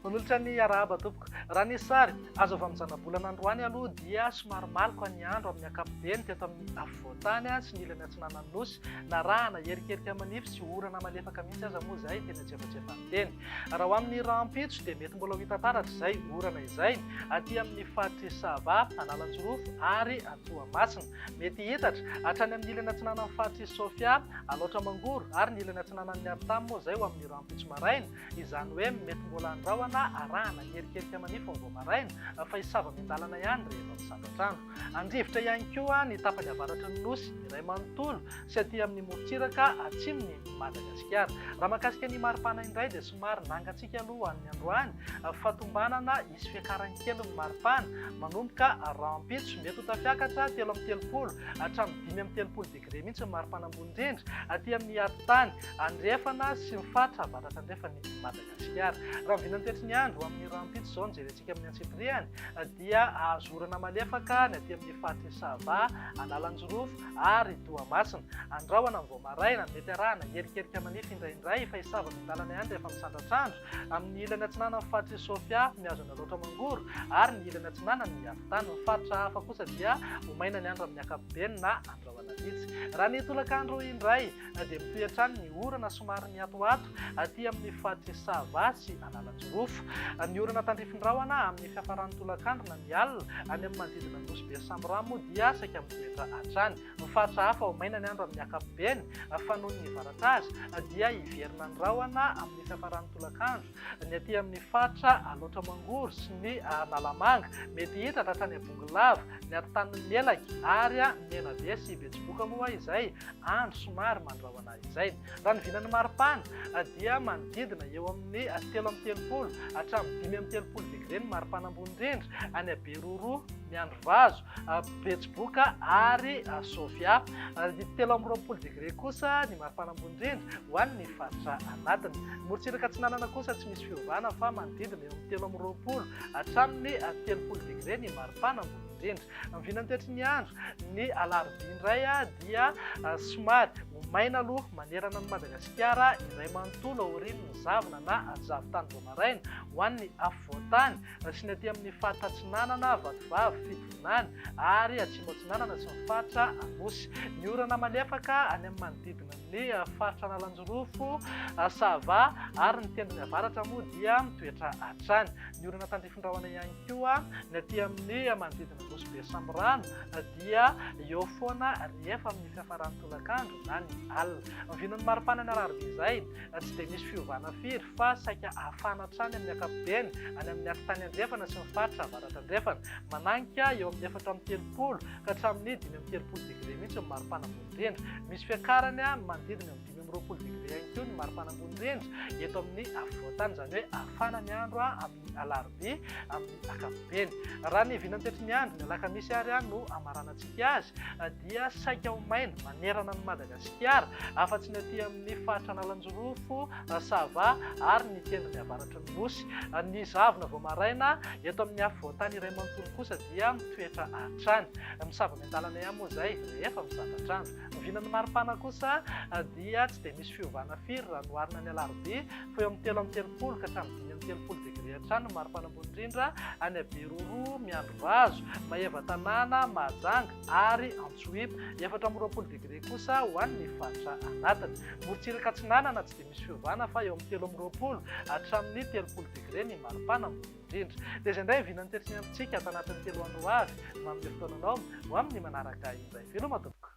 Manolotra ny arahaba tompoko. Raha ny sary azo avy amin'ny zanabolana androany aloha dia somary maloka ny andro amin'ny ankapobeny teto amin'ny afovoantany sy ny ilany atsinanan'ny nosy. Narahana herikerika manify sy orana malefaka mihitsy aza moa izay tena tsiefatsefan'ny teny. Raha ho amin'ny rahampitso dia mety mbola ho hita taratra izay orana izay aty amin'ny faritr'i Sava, Analanjirofo ary Toamasina. Mety hihitatra hatrany amin'ny ilany atsinanan'ny faritr'i Sofia, Alaotra Mangoro ary ny ilany atsinanan'ny Artam moa izay ho amin'ny rahampitso maraina. Izany hoe mety mbola handrahona arahana ny erikerika manify vao maraina fa hisava miandalana ihany rehefa misandra trano. Andrivotra ihany koa ny tapany avaratry ny Nosy iray manontolo sy aty amin'ny morontsiraka atsimon'i Madagasikara. Raha mahakasika ny maripana indray dia somary nangantsika aloha ho an'ny androany fa tombanana hisy fiakarany kely ny maripana manomboka rahampitso. Mety ho tafiakatra telo amby telopolo hatramin'ny dimy amby telopolo degre mihitsy ny maripana ambony indrindra aty amin'ny atitany andrefana sy ny faritra avaratrandrefan'i Madagasikara. Tsy ary. Raha ny vinantoetry ny andro, amin'ny rahampitso izao no jerentsika amin'ny antsipirihany, dia azo orana malefaka ny aty amin'ny faritr'i Sava, Analanjirofo ary Toamasina. Andrahona amin'ny vao maraina no mety arahana herikerika manify indraindray, fa i Sava no lalana ihany rehefa misandratr'andro. Amin'ny ilany atsinanan'ny faritr'i Sofia, mihazo an'i Alaotra Mangoro, ary ny ilany atsinanany mihavitana. Ny faritra hafa kosa dia ho maina ny andro amin'ny ankapobeny na andro alina. Vitsy. Raha ny tolakandro indray dia mitohy hatrany ny orana somary mihatohato aty amin'ny faritry Sava sy Analanjirofo. Ny orana tandrifin'ny rahona amin'ny fiafaran'ny tolakandro na ny alina any amin'ny manodidina ny Nosy be Samboramo dia saika mitoetra hatrany. Ny faritra hafa ho maina ny andro amin'ny ankapobeny fa noho ny varatra azy dia hiverina ny rahona amin'ny fiafaran'ny tolakandro. ny aty amin'ny faritra Alaotra Mangoro sy ny Analamanga, mety hita hatrany Abongolava, ny atintanin'ny Melaky ary Menabe sy Betsiboka moa izay andro somary mandrahona izay. Raha ny vinan'ny maripana dia manodidina eo amin'ny telo amby telopolo hatramin'ny dimy amby telopolo degre ny maripana ambony indrindra any Beroroha, Miandrivazo, Betsiboka ary Sofia. Didy telo amby roapolo degre kosa ny maripana ambony indrindra ho an'ny faritra anatiny. Morontsiraka atsinanana kosa tsy misy fiovana fa manodidina eo amin'ny telo amby roapolo hatramin'ny telopolo degre ny maripana ambony indrindra. Ny vinantoetry ny andro ny alarobia indray dia somary ho maina aloha manerana an'i Madagasikara iray manontolo aorian'ny zavona na zavon-tany vao maraina ho an'ny afovoan-tany Nasiana aty amin'ny faritra Atsinanana, Vatovavy, Fitovinany, ary Atsimo Atsinanana sy ny faritra Anosy. Ny orana malefaka any amin'ny manodidina ny faritra Analanjirofo, Sava, ary ny tendrony avaratra moa dia mitoetra hatrany. Ny orana tandrify rahona ihany koa ny aty amin'ny manodidina Nosy Be Samirano dia eo foana rehefa amin'ny fiafaran'ny tolakandro na ny alina. Ny vinon'ny maripana ny alarobia izay na tsy dia misy fiovana firy fa saika hafana hatrany amin'ny ankapobeny any amin'ny ati-tany andrefana sy ny faritra avaratra-andrefana. Mananika eo amin'ny efatra amby telopolo ka hatramin'ny dimy amby telopolo degre mihitsy ny maripana ambony rindra. Misy fiakarany manodidina amin'ny dimy amby roapolo degre ihany koa ny maripana ambony rindra eto amin'ny afovoan-tany, izany hoe hafana ny andro amin'ny alarobia amin'ny ankapobeny. Raha ny vinantetry ny andro, ny alakamisy ary no hamaranantsika azy dia saika ho maina manerana an'i Madagasikara. Madagasikara, afa-tsy ny aty amin'ny faritra Analanjirofo, Sava ary ny tendrony avaratry ny Nosy. Ny zavona vao maraina eto amin'ny afovoan-tany iray manontolo kosa dia mitoetra hatrany. Misava miandalana ihany moa izay rehefa mizatra andro. Ny vinan'ny maripana kosa dia tsy dia misy fiovana firy raha noharina ny alarobia, fa eo amin'ny telo amby telopolo ka hatramin'ny dimy amby telopolo degre hatrany ny maripana ambony indrindra any Beroroha, Miandrivazo, Maevatanàna, Mahajanga. ary Antsohihy, efatra amby roapolo degre kosa ho an'ny faritra anatiny. Morontsiraka atsinanana tsy dia misy fiovana fa eo amin'ny telo amby roapolo hatramin'ny telopolo degre ny maripana ambony indrindra. Dia izay indray ny vinan'ny tetiny amintsika ato anatin'ny telo andro ho avy. Manome fotoana anao ho amin'ny manaraka indray. Veloma tompoko.